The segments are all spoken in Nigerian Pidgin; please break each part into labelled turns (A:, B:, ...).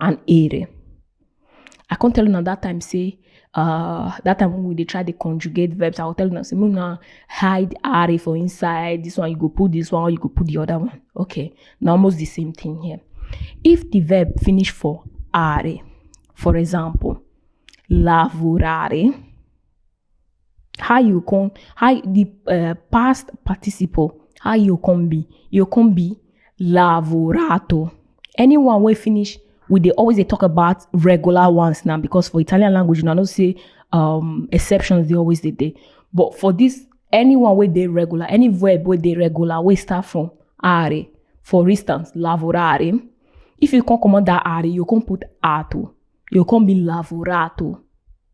A: and ere. I can't tell una that time say uh that time when we dey try dey conjugate verbs, I will tell una say make una hide are for inside. This one you go put this one, or you go put the other one. Okay, na almost the same thing here. If the verb finish for are, for example, lavorare, how you come how the uh, past participle how you come be you come be lavorato anyone wey finish we dey always dey talk about regular ones now because for italian language una know say um, exceptions dey always dey there but for this anyone wey dey regular any verb wey dey regular wey start from are for instance lavorare if you come comot that are you come put ato you come be lavorato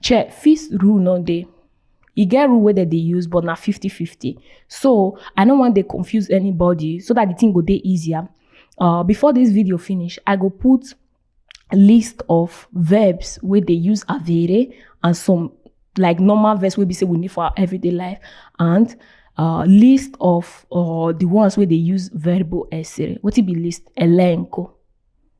A: Che fis rule no dey. E get rule wey dem dey use but na 50-50. So, I no wan dey confuse anybody so that the thing go dey easier. Uh, before this video finish, I go put list of verbs wey dey use avere and some like normal verbs wey be say we need for our everyday life and uh, list of uh, the ones wey dey use verbo essere. Wetin be list? Elenco.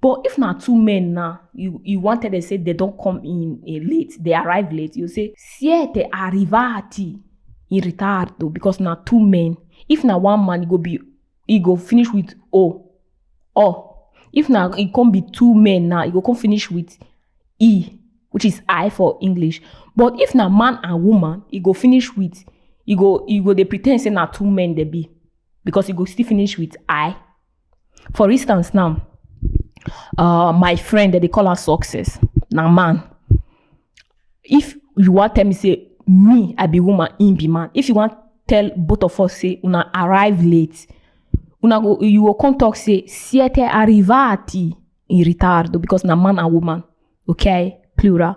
A: But if na two men now, you, you wanted to say they don't come in eh, late, they arrive late, you say, siete arrivati in ritardo, because na two men. If na one man, it go be, it go finish with O. O. If na, it can be two men now, it go come finish with E, which is I for English. But if na man and woman, it go finish with, it go, it go, they pretend say na two men they be, because it go still finish with I. for instance now uh, my friend that they call her success now man if you want tell me say me i be woman him be man if you want tell both of us say una arrive late una go you go come talk say siete arrivati in ritardo because na man and woman okay plural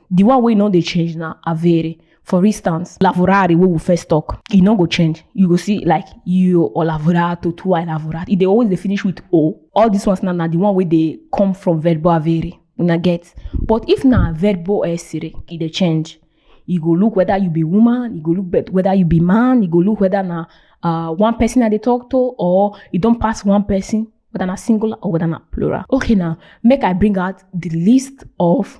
A: The one wey no dey change na avere. For instance, lavorare wey we first talk, e no go change. You go see like io ho lavorato, tu hai lavorato. E dey always dey finish with o. All these ones now na the one wey dey come from verbo avere. Una get? But if na verbo essere, e dey change. E go look whether you be woman, e go look bet- whether you be man, e go look whether na uh, one person I dey talk to or e don pass one person, whether na singular or whether na plural. Okay now, make I bring out the list of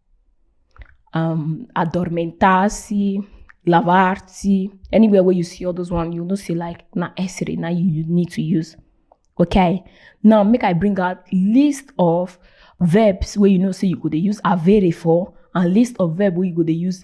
A: um, adormentarse, lavarse, anywhere where you see all those one, you know say like na essere now you, you need to use. Okay. Now make I bring out list of verbs where you know say you could use avere for and list of verb where you could use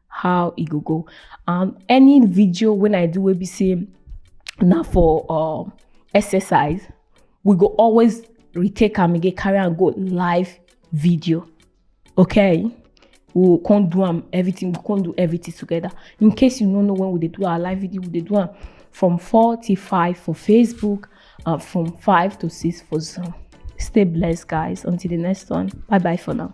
A: how e go go and any video when i do wey be say na for um, exercise we go always retake am again carry am go live video okay we go come do am everything we go come do everything together in case you no know when we dey do our live video we dey do am from four till five for facebook and from five to six for zoom stay blessed guys until the next one bye bye for now